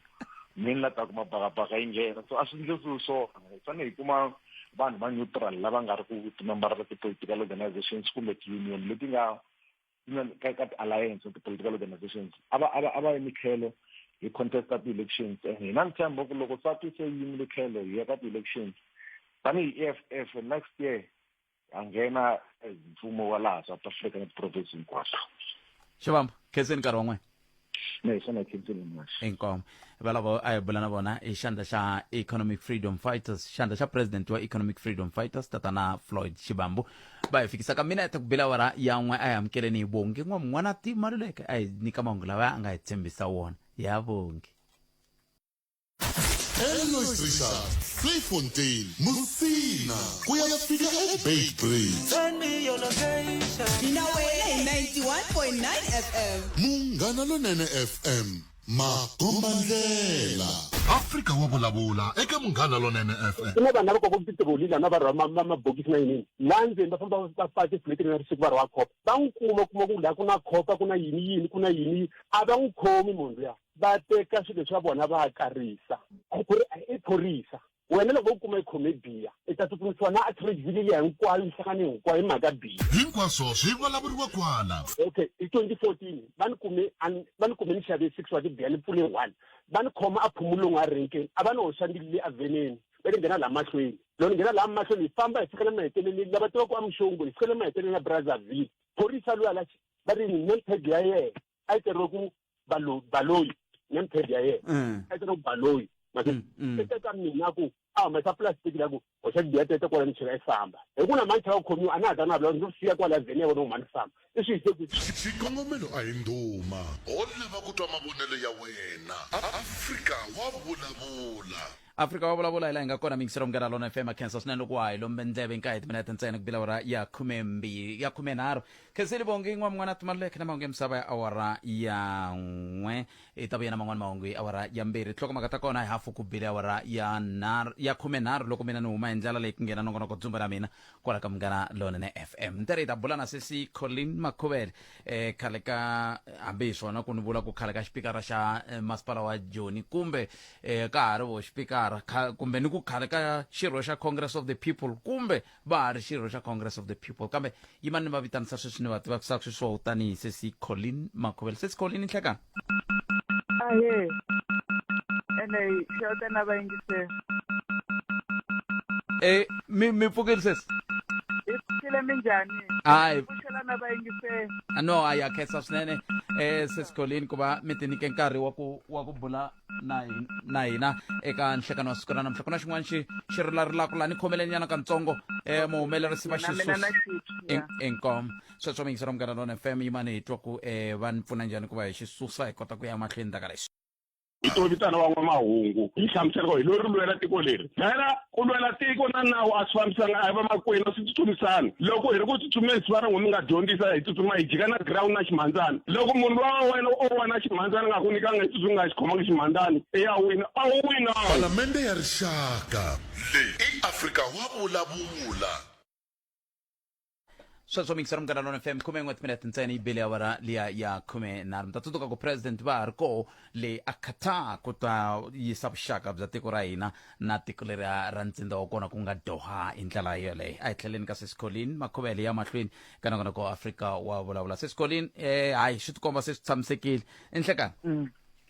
Speaker 8: mi ni la ta kuma bakabaka yi nghena so a swi ndlisiwi swona hi fanele hi kuma vanhu va neutral lava nga ri ku timembarela ti-political organizations kumbe ti-union leti nga you know ka ka alliance of the political organizations aba aba aba emikhelo hi contest ka elections and hina ni tshemba ku loko sati se yimile khelo hi ya ka elections tanihi EFF next year a nghena mfumo wa laha South Africa ni province hinkwaxo xivamba
Speaker 1: khenseni nkarhi wan'wana no hi swona
Speaker 8: council much inkomo valavo
Speaker 1: a hi bula na vona hi xandla xa economic freedom fighters xandla xa president wa economic freedom fighters tatana floyd xibambu va hi fikisa ka mina ete ku bila wara yan'we a hi amukeleni hi vongi n'wa mun'wana ti maluleke a hi nyika mahungu lawa a nga hi tshembisa wona ya vongi
Speaker 2: elois richard playfontein musina ku ya fika ebay bridge
Speaker 3: mina wena hi 91.9 fm munghana lonene
Speaker 2: fm makombandlela afrika wa vulavula eka munghana lonene fm ku na vanhu lava kokaka titiroli
Speaker 5: laha na va rhwa mabokisi na yinini laha ndzeni va famba va faka tifuleti na risiku va rhwa khopa va n'wi kuma kuma ku laha ku na khopa ku na yini yini ku na yini yini a va n'wi khomi munhu luya va teka swilo swa vona va karisa i phorisa wena loko u kuma ikhome biya i ta tsutsumisiwa na atrevile liya hinkwayo nhlangano hinkwayo hi mhaka biya hinkwaswo swi
Speaker 2: vulavuriwa kwala okay hi 2014
Speaker 5: va ni kume va ni kume ni xave six wa tibiya ni pfule one va ni khoma a phumulongo a renkeni a va ni hoxa ndili leyi aveneni va ni nghena laha mahlweni loko ni nghena laha mahlweni hi famba hi fika le maheteleleni lava tivaka amuxongo hi fika le maheteleleni ya brazzaville phorisa loyi ala va ri ni name tag ya yena a yi tirhile ku balo baloyi name tag ya yena Mm. a yi tirhile ku baloyi mase Mm, mm. se teka mina ku a humesa plastic la ku hoxa biya tete kwala ni chela yi famba hi ku na mani chela ku khomiwa a na ha ta na vula ndzi siya kwala vheni ya vona ku mani famba i swi hise ku xikongomelo a hi
Speaker 2: ndhuma ho lava ku twa mavonelo ya wena afrika wa vulavula afrika wa vulavula
Speaker 1: hi laha hi nga kona mingiselo munghana lona fm khensa swinene loko wa ha hi lombe ndleve hi nkahi hi timinete ntsena ku bila awara ya khumembirhi ya khumenharhu khenseli vongi n'wa mun'wana timaluleke na mahungu ya misava ya awara ya n'we hi ta vuya na man'wana mahungu hi awara ya mbirhi tihlokomaka ta kona hi hafu ku bile awara ya nharhu ya khumenharhu loko mina ni huma hi ndlela leyi ku nghena nongonoko dzumba ra mina kwala ka munghana lonene fm ntirhi hi ta bula na sesi colin makhuvele eh, khale ka hambi hi swona ku ni vula ku khale ka xipikara xa eh, masipala wa joni kumbe eh, ka ha ri vo xipikara kha- kumbe ni ku khale ka xirho xa congress of the people kumbe va ha ri xirho xa congress of the people kambe yimani ni va vitanisa sweswi ni va tivakisaka sweswo tanihi sesi colin makhuvele sesi colin nhlekani
Speaker 6: ahe ene xeweta
Speaker 1: na vayingiseri e mi mi pfukile sesi hi pfukile
Speaker 6: minjhani Hayi. pfuxela
Speaker 1: na
Speaker 6: vayingiseri Ah, no hayi ha khensa
Speaker 1: swinene eh sesikolini ku va mi tinyike nkarhi wa ku wa ku bula na hi- na hina eka nhlekano wa siku ra namuntlha ku na xin'wana xi xi rilarilaka laha ni khomeleni nyana kantsongo eh muhumelerisi va na mina na xisusi xipya inkom sweswo mi yingisela munghana lona fm yimani hi twa ku um va ni pfuna njhani ku va hi xi susa hi kota ku ya mahlweni ndaka lexi hi to vitana
Speaker 5: van'wamahungu yi hlamuselaka hi lori lwela tiko leri phela ku lwela tiko na nawu a swi fambisanga a hi vamakwenu a swi tsutsumisani loko hi ri ku tsutsumeni swi va rin'we mi nga dyondzisa hi tsutsuma hi jika na ground na ximhandzani loko munhu lowa wa wena o wa na ximhandzani nga ku nyikanga hi tsutsumi nga xi khomanga ximhandzani i ya wina a wu wina palamende ya
Speaker 2: rixaka leyi i afrika wa vulavula
Speaker 1: sweswo mikisera munghana lona fm khume n'we timinete ntsena yi bele awara liya ya khume nharhu mi ta tsundzuka ku president va ha ri koho le a qatar ku ta yisa vuxaka bya tiko ra hina na tiko leri ra ntsinda wa kona ku nga doha hi ndlela yoleyo a hi tlheleni ka sesicolin makhuvele ya mahlweni ka nakona ko afrika wa vulavula sesicolin eh hayi swi tikomba se swi tshamisekile enhlekani Mm.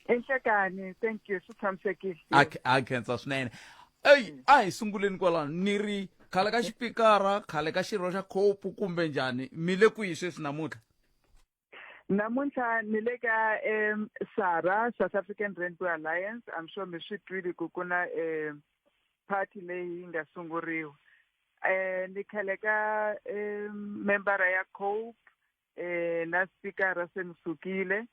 Speaker 6: enhlekani thank you swi tshamisekile
Speaker 1: a a khensa swinene eyi a hi sunguleni kwalano ni ri khale ka xipikara khale ka xirho xa khopu kumbe njhani mi le kwihi sweswi namuntlha namuntlha
Speaker 6: ni le ka um sara south african rainbow alliance i'm sure mi swi twile ku ku na um party leyi yi nga sunguriwa um ni khale ka um membara ya cope eh na spikara se ni sukile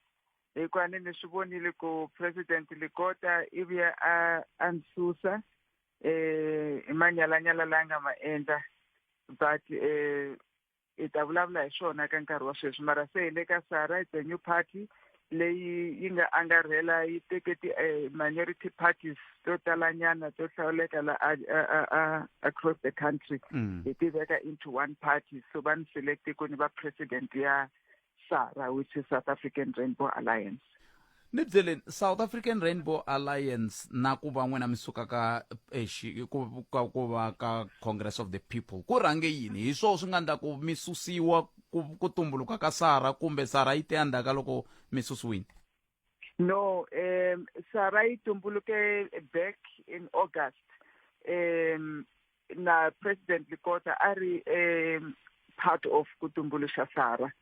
Speaker 6: hikuva ni ni swi vonile ku president likota i vuya a a ni susa eh hi manyalanyala la nga ma endla but eh hi ta vulavula hi swona ka nkarhi wa sweswi mara se hi le ka sara it's a new party leyi yi nga angarhela yi teke ti-minority eh, parties to talanyana to hlawuleka la across the country mm. hi ti veka into one party so va ni select ku ni va president ya sara which is south african rainbow alliance ni byeleni
Speaker 1: south african rainbow alliance na ku va n'wina mi suka ka eh, ku va ka congress of the people ku rhange yini hi swoo swi nga ndla ku mi susiwa ku ku tumbuluka ka sara kumbe sara yi te endzhaku ka loko mi susiwile no
Speaker 6: um sara yi tumbuluke back in august um na president likota a ri um part of ku tumbuluxa sara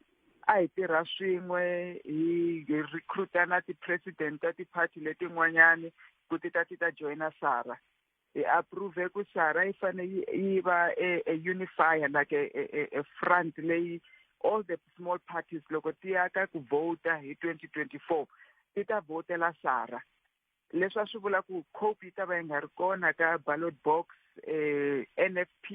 Speaker 6: a hi tirha swin'we hi hi recruita na ti-president ta ti-party letin'wanyani ku ti ta ti ta joyina sara hi approve ku shara yi fane yi va a, a unifier like a, a, a front leyi all the small parties loko ti ya ka ku vota hi 2024 ti ta votela shara leswi a swi vula ku cope yi ta va yi nga ri kona ka ballot box eh, nfp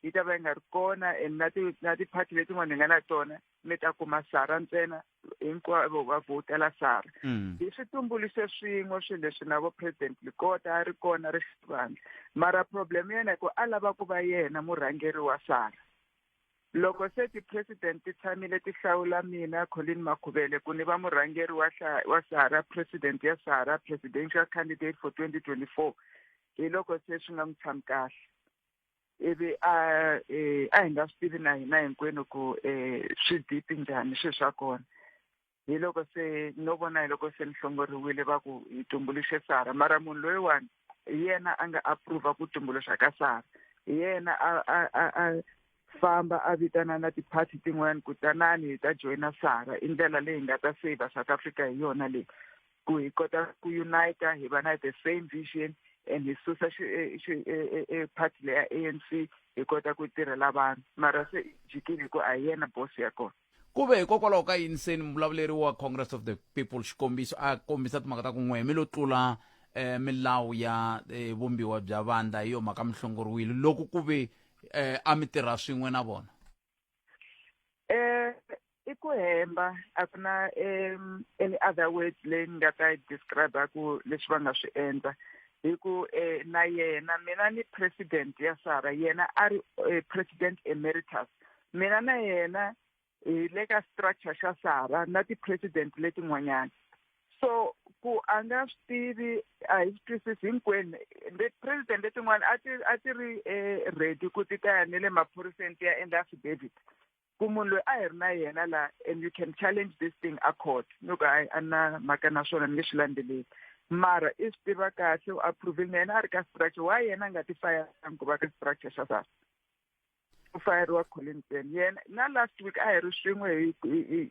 Speaker 6: yi ta va yi nga ri kona and na ti-party letin'wana hi nga na tona mi ta kuma shara ntsena hinkwavo va vhotela sara mm. hi swi tumbuluxe swin'we swilo leswi na vo president likota a ri kona ri xivandla mara problem yena hi ku a lava ku va yena murhangeri wa sara loko se ti-president ti tshamile ti hlawula mina colin makhuvele ku ni va murhangeri wa wa sara president ya sara presidential candidate for twenty twenty four hi loko se swi nga n'wi tshami kahle ivi a eh, a hi nga swi tivi na hina hinkwenu ku um swi dipi njhani swilo swa kona hi loko se no vona hi loko se ni hlongoriwile va ku hi tumbuluxe sara mara munhu loyiwani hi yena a nga approva ku tumbuluxa ka sara hi yena a a a a famba a vitana na ti-party tin'wana kutanani hi ta joyina sara i ndlela leyi nga ta saver south africa hi yona leyi ku hi kota ku unita hi va na the same vision and hi susa eh, eh, eh, party leya ANC hi kota ku tirhela vanhu mara se jikile hi ku a hi yena boss ya kona ku ve hikokwalaho ka
Speaker 1: yini se ni muvulavuleri wa congress of the people xikombiso a kombisa timhaka ta ku n'we mi lo tlula um milawu ya vumbiwa bya vandla hi yo mhaka mi hlongoriwile loko ku ve um a mi tirha swin'we na vona eh
Speaker 6: i ku hemba a ku na um any other word leyi ni nga ta yi describe ku leswi va nga swi endla hi ku eh na yena mina ni president ya sara yena a ri eh, president emeritus mina na yena hi le ka structure xa sara na ti-president letin'wanyana so ku a nga swi tivi a hi swi twisisi hinkwenu president letin'wana a ti a ti ri eh, ready ku ti ta ya ni le maphoriseni ti ya endla affidavit ku munhu loyi a hi ri na yena la and you can challenge this thing a court ni ku a a na mhaka na swona ni nge swi landzeleli mara i swi tiva kahle u approvile na yena a ri ka structure wa yena a nga ti fayanga ku va ka structure xa sasa ku fayeriwa Collinson yena na last week a hi ri swin'we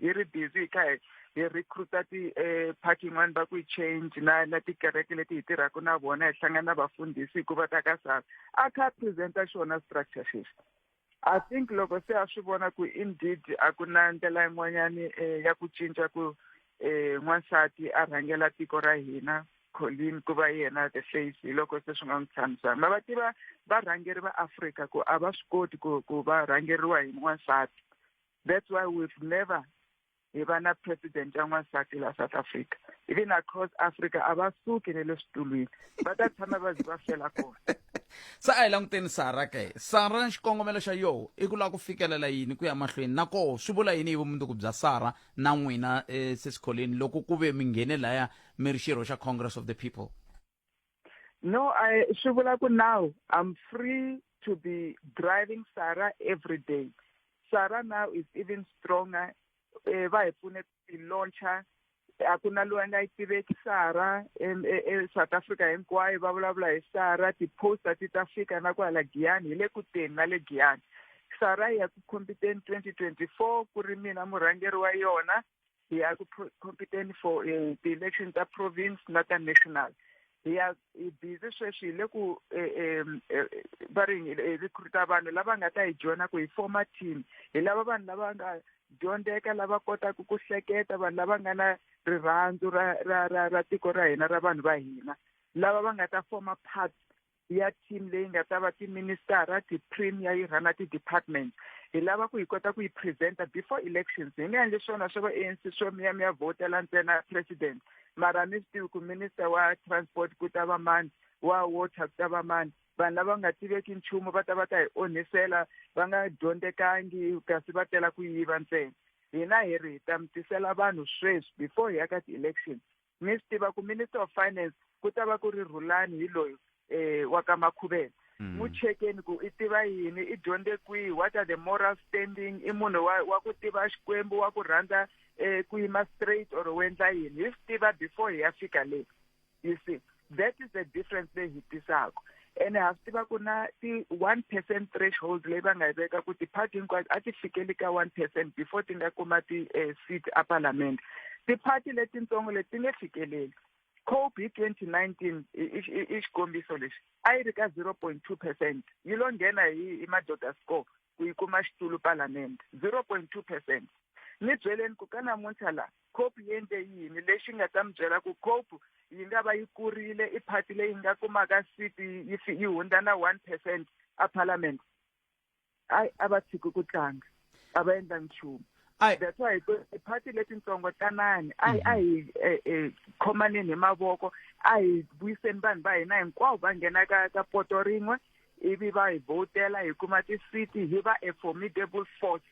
Speaker 6: hi ri busy hi kha hi hi recruita ti eh, party yin'wana va ku yi change na na tikereke leti hi tirhaka na vona hi hlangana na vafundhisi hikuva ta ka sava a kha a presenta xona structure xexi i think loko se a swi vona ku indeed a ku na ndlela yin'wanyani um ya ku cinca ku um n'wansati a rhangela tiko ra hina Colleen ku va yena the face hi loko se swi nga n'wi tshamisanga ma va tiva varhangeri va Afrika ku a va swi koti ku ku va rhangeriwa hi n'wansati that's why we've never hi va na president ya n'wansati la South Africa even across Africa a va suki ne le switulwini va ta tshama va zi va fela kona se a hi
Speaker 1: languteni sara ke sara xikongomelo xa yoho i ku lava ku fikelela yini ku ya mahlweni na koho swi vula yini hi vumundzuku bya sara na n'wina eh, sesikholeni loko ku ve mi nghene laya mi ri xirho xa congress of the people
Speaker 6: no I, swi vula ku now i'm free to be driving sara every day sara now is even stronger eh, va hi pfune ku launcher a ku na loyi a nga yi tiveki sara esouth e, africa hinkwayo va vulavula hi sara ti-poster ti ta fika na kwala giyani hi le ku teni na le giyani sara ya ku khompiteni twenty twenty four ku ri mina murhangeri wa yona hi ya ku competeni for eh, ti-election ta province na ta national hi ya hi busy sweswi hi le ku eh, eh, va ri hi recruita vanhu lava nga ta hi joyina ku hi forma team hi lava vanhu lava nga dyondzeka lava kotaka ku hleketa vanhu lava nga na rirhandzu ra ra ra ra tiko ra hina ra vanhu va hina lava va nga ta forma part ya team leyi nga ta va tiministara ti-premier yi rhana ti-department hi lava ku hi kota ku yi presenta before elections hi nga endli swona swa va anc swo miya miya vhotela ntsena president mara mi swi tivi ku minister wa transport ku ta va mani wa water ku ta va mani vanhu lava nga tiveki nchumu va ta va ta hi onhisela va nga dyondzekangi kasi va tela ku yiva ntsena hina hi ri hi ta mi tisela vanhu sweswi before hi ya ka ti-election mi swi tiva ku minister of finance ku ta va ku ri rhulani hi loyi um wa ka makhuveni mm. n'wi chekeni ku i tiva yini i dyondze kwihi what are the moral standing i munhu wa wa ku tiva xikwembu wa ku rhandza um ku yima straight or u endla yini hi swi tiva before hi ya fika leyi you see that is the difference leyi hi tisaka ene ha swi tiva ku na ti-one percent threshold leyi va nga yi veka ku ti-party hinkwato a ti fikeli ka one percent before ti nga kuma ti-seat eh, a parliament ti-party letintsongo leti ti nge fikeleli cope hi twenty nineteen i xikombiso lexi a yi ri ka zero point two percent yi lo nghena hi hi madoda score ku yi kuma xitulu palamende 0.2 percent ni byeleni ku ka namuntlha la cope yi endle yini lexi nga ta mi byela ku cope yi nga va yi kurile i party leyi nga kumaka seat yi fi- yi hundza na one percent a parliament ayi a va tshiki ku tlanga a va endla nchumu Ai. that's why ku- ti-party letitsongo tanani a hi a hi eh, eh, khomaneni hi mavoko a hi vuyiseni vanhu va hina hinkwavo va nghena ka ka poto rin'we ivi va hi vhotela hi kuma tisiti hi va a formidable force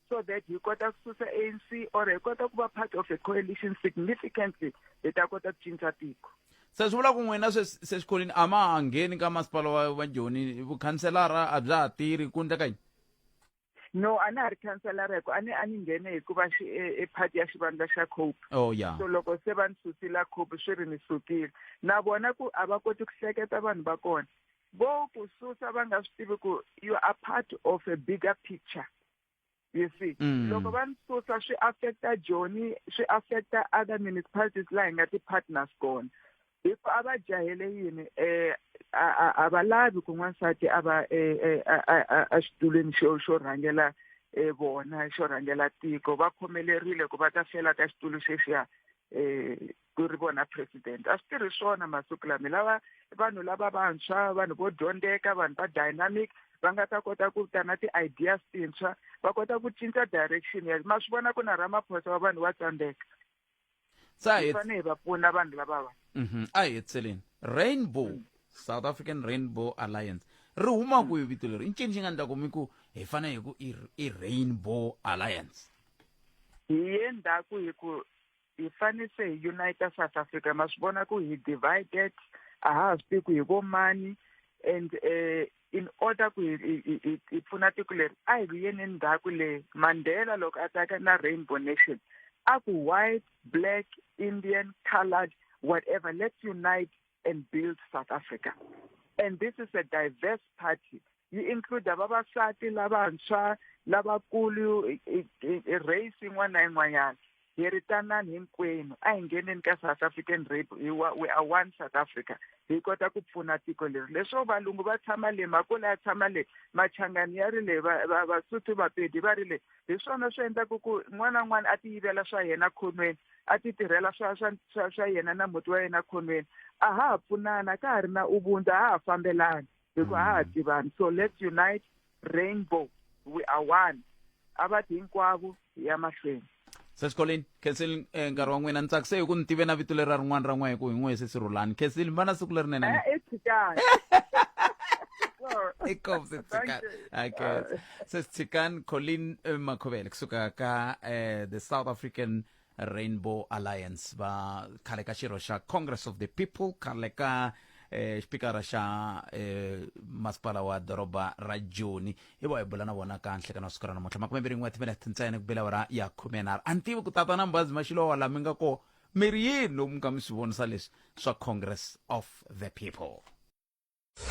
Speaker 6: so that hi kota ku susa anc or hi kota ku va part of a coalition significantly hi ta kota ku cinca tiko se swi vula ku n'wina
Speaker 1: sexikolweni a ma ha ngheni ka masipala wa joni vukhanselara a bya ha tirhi ku ndleka yini no
Speaker 6: a na ha ri khanselara hikuva a ni a ni nghene hikuva xi e, e party ya xivandla xa cope oh, yeah. so loko
Speaker 1: se va ni susila
Speaker 6: cope swi ri ni sukile na vona ku a va koti ku hleketa vanhu va kona vo ku susa va nga swi tivi ku you are part of a bigger picture you see mm. loko va ni susa swi affecta joni swi affecta other municipalities laha hi nga ti-partners kona hi ku a va jahele yini um a va lavi ku n'wansati a va exitulwini e, e, e, xo xo rhangela vona xo rhangela tiko va khomelerile ku va ta fela ka xitulu xexiya um ku ri vona president a swi tirhi swona masiku lama hi lava vanhu lava vantshwa vanhu vo dyondzeka vanhu va dynamic va nga ta kota ku ta na ti-ideas tintshwa va kota ku cinca direction ya ma swi vona ku na ramaphosa wa vanhu wa tsandzeka se a hi hi fanele hi va pfuna vanhu lavava Mhm, a hi hetseleni
Speaker 1: rainbow Mm. south african rainbow alliance ri huma kwihi vito leri i ncini xi nga ndla kumi ku hi fane hi ku i i rainbow alliance hi
Speaker 6: ye ndhaku hi ku hi fanele se hi unite south africa ma swi vona ku hi divided a ha ha swi tivi ku hi vo mani and um in order ku hi hi- hi- hi- hi pfuna tiko leri a hi vuyeni endzhaku le mandela loko a tsaka na rainbow nation a ku white black indian coloured whatever let's unite and build south africa and this is a diverse party yi include vavasati lavantshwa lavakulu i- i- i- i- race yin'wana na yin'wanyana hi ri tanani hinkwenu a hi ngheneni ka south african rape hi wa we are one south africa hi kota ku pfuna tiko leri leswo valungu va tshama le makula ya tshama le machangani ya ri le vasuthu vapedi va ri le hi swona swi endlaku ku n'wana n'wana a ti yivela swa yena khonweni a ti tirhela swa swa swa swa yena na muti wa yena khonweni a ha ha pfunana ka ha ri na ubuntu a ha ha fambelani hi ku a ha mm. tivani so let's unite rainbow we are one a va ti hinkwavo hi ya mahlweni sesikoleni
Speaker 1: khensile eh, nkarhi wa n'wina ni tsakise hi ku ni tive na vito leri ra rin'wana ra n'we hi ku hi n'we se si rhulani khensile mi va na siku lerinene eh, inkosi tsikan okay sesithikan colin eh, makhobele kusuka ka the south african rainbow alliance va khale ka xirho xa congress of the people khale ka eh, xipikara xa eh, masipala wa doroba ra joni hi va hi bula na vona ka nhlekani wa siku ra namuntlha makume mbirhi n'we timinete ntsena ku bela ra ya khume nharhu a ni tivi ku tata na mbazi maxilowa laha mi nga ko mi ri yini lomu nga mi swi vonisa leswi swa congress of the people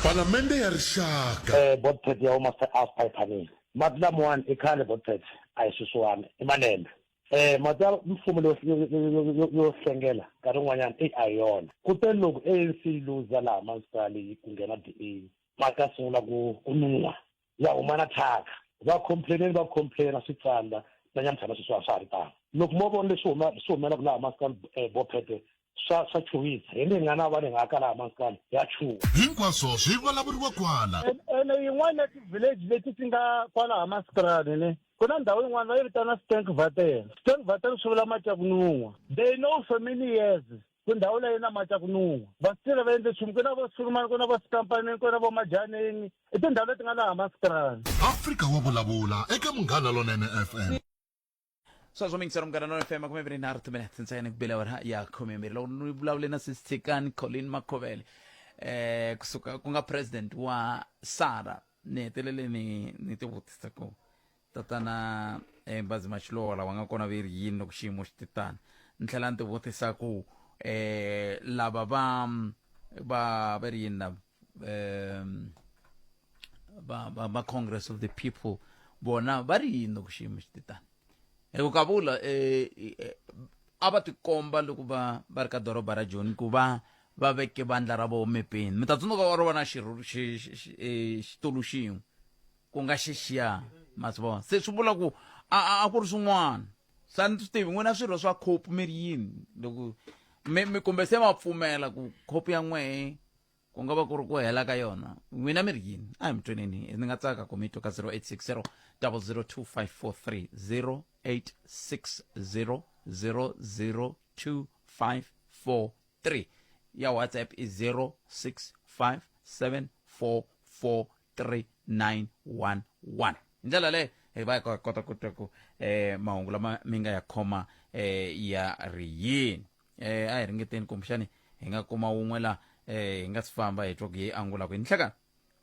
Speaker 2: Palamende ya Rixaka. Eh Botpet ya huma se
Speaker 9: Alf Payphanini. Mati lamawani i khale Botpet a hi sweswiwani i malembe. Eh mati ya mfumo leyo yo yo hlengela nkarhi wun'wanyana eyi a hi yona. Kutani loko ANC yi luza laha municipal yi ku nghena DA mati ya sungula ku ku nun'hwa ya huma na thyaka va complaineni va complaina swi tsandza na nyamutlha na sweswi a swa ha ri tano loko mo vona leswi huma swi humelaka laha maskani eh, bophete swa swa chuwisa hi ni nga na va ni nga ka laha maskani ya chuwa hinkwaswo swi
Speaker 2: vulavuriwa kwala ene yin'wana ya
Speaker 10: ti-village leti ti nga kwalaha masikrani ne ku na ndhawu yin'wana va yi vitana stank vatel stank vatel swi vula matyakunun'wa they know for many years ku ndhawu leyi na mati ya ku nun'wa vasitile va endle nchumu ku na vo sulumani ku na vo sikampanini ku na vo majaneni i tindhawu leti nga laha masitirani afrika wa vulavula
Speaker 2: eka munghana lonene fm
Speaker 1: sweswo mingisero munghana lonene fm khume mbirhi nharhu timinete ntsena ku bela wena ya khume mbirhi loko ni vulavule na sisitsikani colin makhovele eh kusuka ku nga president wa sara ni hetelele ni ni tivutisa ku tatana embazi maxilola wa nga kona ve ri yini loko xiyimo xi titani ni tlhela ni tivutisa ku um eh, lava va va ve ri yini lava um va va va congress of the people bona va ri yini loko xiyimo xi titani hi ku ka vula eh, eh, a va tikomba loko va va ri ka doroba ra joni ku va va veke vandla ra vona mepeni mi ta tsundzuka va ri vona xitulu xin'we ku nga xixiya ma swi vona se swi vula ku a a ku ri swin'wana swa ni swi tivi n'wina swirho swa khopi mi ri yini loko mi mi kumbe se ma pfumela ku khopi ya n'wehe ku nga va ku ri ku hela ka yona n'wina mi ri yini a hi mi tweneni ni nga tsaka ku mi twa ka 0860 0025430 0860 00254 3 ya whatsapp i 0657443911 hi ndlela leyo hi va hi ko- kota ku twa ku eh mahungu lama mi nga ya khoma eh ya ri yini eh a hi ringeteni kumbexani hi nga kuma wun'we la eh hi nga si famba hi twa ku ye angula ku hi nhlekani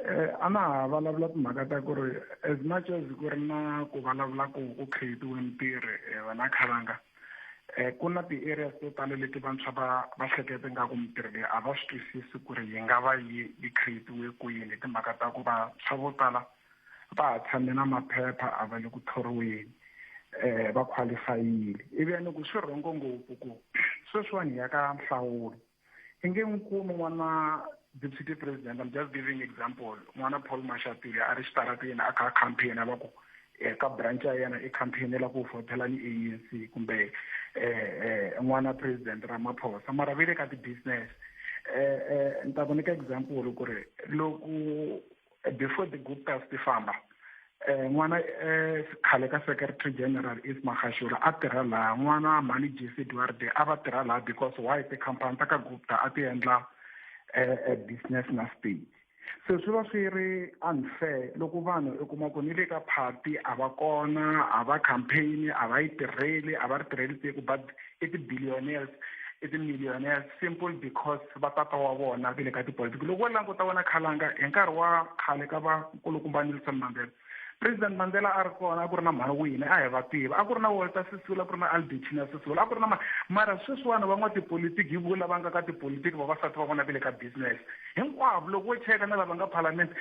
Speaker 1: eh
Speaker 7: a na ha vulavula timhaka ta ku ri as much as ku ri na ku vulavula ku ku creatiwe mitirho eh, wena khalanga eh ku na ti-areas to tala leti vantshwa va va hlekete nga ku mitirho leyi a va swi twisisi ku ri yi nga va yi yi creatiwe kwini hi timhaka ta ku vantshwa vo tala va ha tshame na maphepha a va le ku thoriweni eh va qualifyile ivi ya ni ku swi rhongo ngopfu ku sweswiwani hi ya ka nhlawulo hi nge n'wi kumi n'wana deputy president i'm just giving example n'wana paul mashatile a ri xitarateni a kha a campaign a va ku eka eh, branch ya yena i campaign la ku votela ni anc kumbe um n'wana president ramaphosa mara ve le ka ti-business um ni ta ku nyika example ku ri loko before the guptas ti famba um n'wana um khale ka secretary general is magashura a tirha laha n'wana mhani jesse duarde a va tirha laha because why tikhampani ta ka gupta a ti endla um business na state se swi va swi ri unfair loko vanhu u kuma ku ni le ka party a va kona a va campaign a va yi tirheli a va ri tirheli tiko but i ti-billionaires i ti-millionaires simple because va tata wa vona ve le ka tipolitiki loko wo languta wena khalanga hi nkarhi wa khale ka va nkulukumba nelson mandela president mandela a ri kona a ku ri na mhani wini a hi va tiva a ku ri na walter sisula a ku ri na albertina sisula a ku ri na ma mara sweswiwani van'watipolitiki hi vo lava nga ka tipolitiki vavasati va vona ve le ka business hinkwavo loko wo cheka na lava nga palamende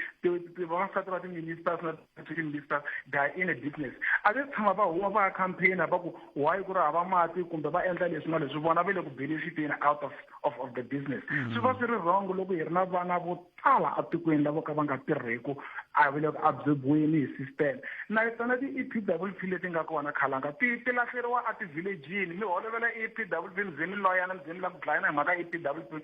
Speaker 7: vavasati va ti-ministers na African Vista guy in a business a ve tshama va huma va ya campaign va ku why ku ri hava mati kumbe va endla leswi na leswi vona va le ku benefiteni out of of of the business mm-hmm. swi va swi ri wrong loko hi ri na vana vo tala etikweni lavo ka va nga tirheku a va le ku absorbiweni hi system na tona ti-e p w p leti nga kona khalanga ti ti lahleriwa etivillageini mi holovela e p w p mi ze mi loyana mi ze mi lava ku dlayana hi mhaka e p w p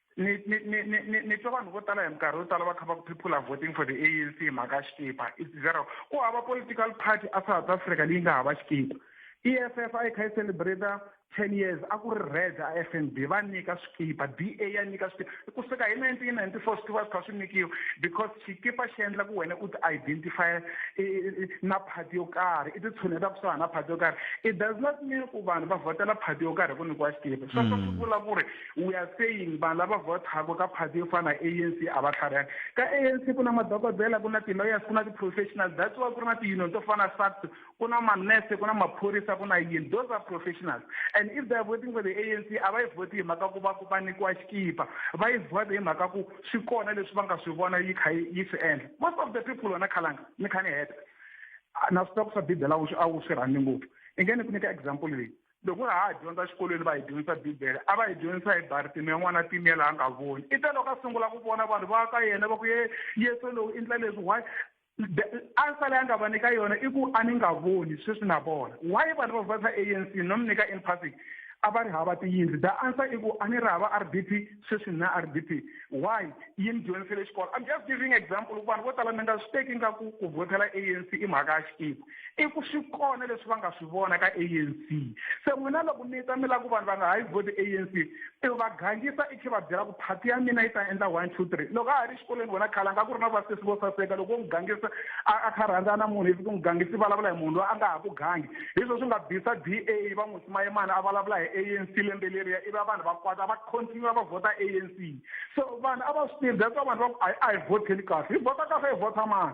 Speaker 7: ni ni ni ni ni twa vanhu vo tala hi minkarhi yo tala va kha va ku people are voting for the anc hi mhaka ya xikipa it's zero ku hava political party a south africa leyi nga hava xikipa e f f a yi kha yi celebrata ten years a ku ri red a f n b va nyika swikipa b a ya nyika swikipa ku suka hi nineteen ninety four swi tiva swi kha swi nyikiwa because xikipa xi endla ku wena u ti identify na party yo karhi i ti tshuneta kusuhana na party yo karhi it does not mean ku vanhu va vhotela party yo karhi hi ku nyikiwa xikipa sweswo swi vula ku ri we are saying vanhu lava vhotaka ka party yo fana na anc a va tlharihani ka anc ku na madokodela ku na ti-lawyers ku na ti-professionals that's why ku ri na ti-union to fana sact ku na manurse ku na maphorisa ku na yini those are professionals and if they are voting for the anc a va yi vhoti hi mhaka ku va ku va nyikiwa xikipa va yi vhota hi mhaka ku swi kona leswi va nga swi vona yi kha yi swi endla most of the people wena khalanga ni kha ni heta na switoko swa bibele a wu swi rhandzi ngopfu i nge ni ku nyika example leyi loko ha ha dyondza xikolweni va hi dyondzisa bibele a va hi dyondzisa hi baritimi ya n'wana timela a nga voni i ta loko a sungula ku vona vanhu va ka yena va ku ye yesu lowu i ndla leswi why ansa leyi a nga va nyika yona i ku a ni nga voni sweswi na vona why vanhu va vasa a n c no mi nyika empathic a va ri hava tiyindlu the answer i ku a ni ri hava r d p sweswi ni na r d p why yi ni dyondzisele xikolo i'm just giving example vanhu vo tala mi nga swi teki nga ku ku vhotela a n c i mhaka ya xikimu i ku swi kona leswi va nga swi vona ka anc se n'wina loko mi ta mi lava ku vanhu va nga ha yi vhoti anc i va gangisa i khe va byela ku phati ya mina yi ta endla one two three loko a ha ri xikolweni vona khale a nga ku ri na vasesi vo saseka loko u n'wi gangisa a kha rhandza na munhu ivi ku n'wi gangisa i vulavula hi munhu loyi a nga ha ku gangi hi swo swi nga bisa d a va n'wi simayimana a vulavula hi anc lembe leriya ivi vanhu va kwata va continue va vhota anc so vanhu a va swi tivi that's why vanhu va ku a hi vhoteni kahle hi vhota kahle hi vhota mani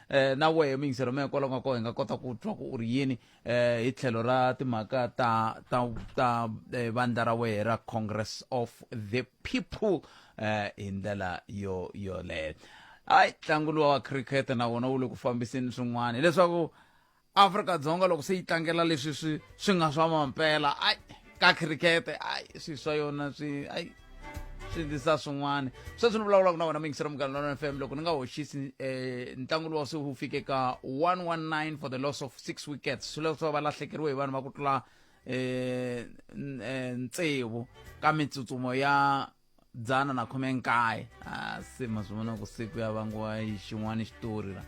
Speaker 1: eh, na wehe mingisero mehe kwalaho nga ko hi nga kota ku twa ku u ri yini eh, hi tlhelo ra timhaka ta ta ta eh, vandla ra wehe ra congress of the people eh, hi ndlela yo yoleyo hayi ntlangu luwa wa cricket na wona wu le ku fambiseni swin'wana hileswaku afrika-dzonga loko se yi tlangela leswi swi swi nga swa mampela ai ka khirikete ai swi swa yona swi ai swi ndisa swin'wana sweswi ni vulavulaka na wena muyingisela munghana lona f m loko ni nga hoxisi um eh, ntlangu lowa se wu fike ka 119 for the loss of six wickets swi leswo va lahlekeriwe hi vanhu va ku tlula um tsevu ka mitsutsumo ya dzana na khume nkaye ah, se ma swi vona ku siku ya vangiwa yi xin'wana xitori la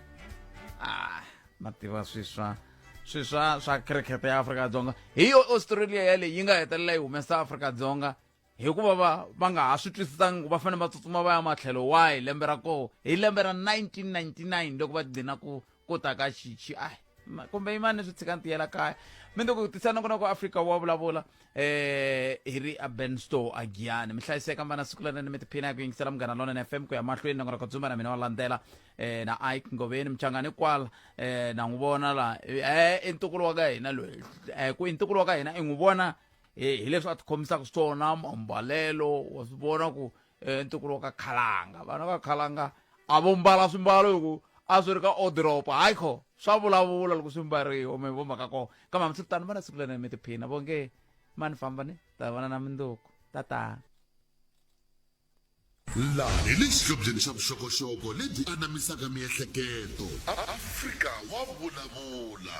Speaker 1: ah, ma tiva swiswa swiswa swa cricket ya afrika-dzonga hi yo australia yaleyi yi nga hetelela yi humesa afrika-dzonga hikuva va va nga ha swi twisisangi ku va fanele va tsutsuma va ya matlhelo wahi lembe ra koho hi lembe ra 1999 loko va gcina ku ku ta ka xichi ai ma- kumbe yimani swi tshika ni tiyela kaya mindzuku tisa nongo noko afrika wa vulavula eh hi ri a ben store a giyani mi hlayiseka mvana siku lana ni mi tiphina ya ku yingisela munghana lonene fm ku ya mahlweni nongo noko dzumba na mina wa landzela eh na ike ngoveni muchangani kwala eh na n'wi vona la eh i ntukulu wa ka hina loyi eh ku i ntukulu wa ka hina i n'wi vona hi hi leswi a tikhomisaka swona mambalelo wa swi vona ku eh, ntukulu wa ka khalanga vana va khalanga a vo mbala swimbalo hi ku a swi ri ka odoropo hayi kho swa vulavula loko swi mbariwa mi vo mhaka kona kambe hambi swi tano vana siku lena mi tiphina vo nge mani famba ni ta vana na minduku tatana
Speaker 2: laha hi le xihlobyeni xa vuxokoxoko lebyi anamisaka miehleketo afrika wa vulavula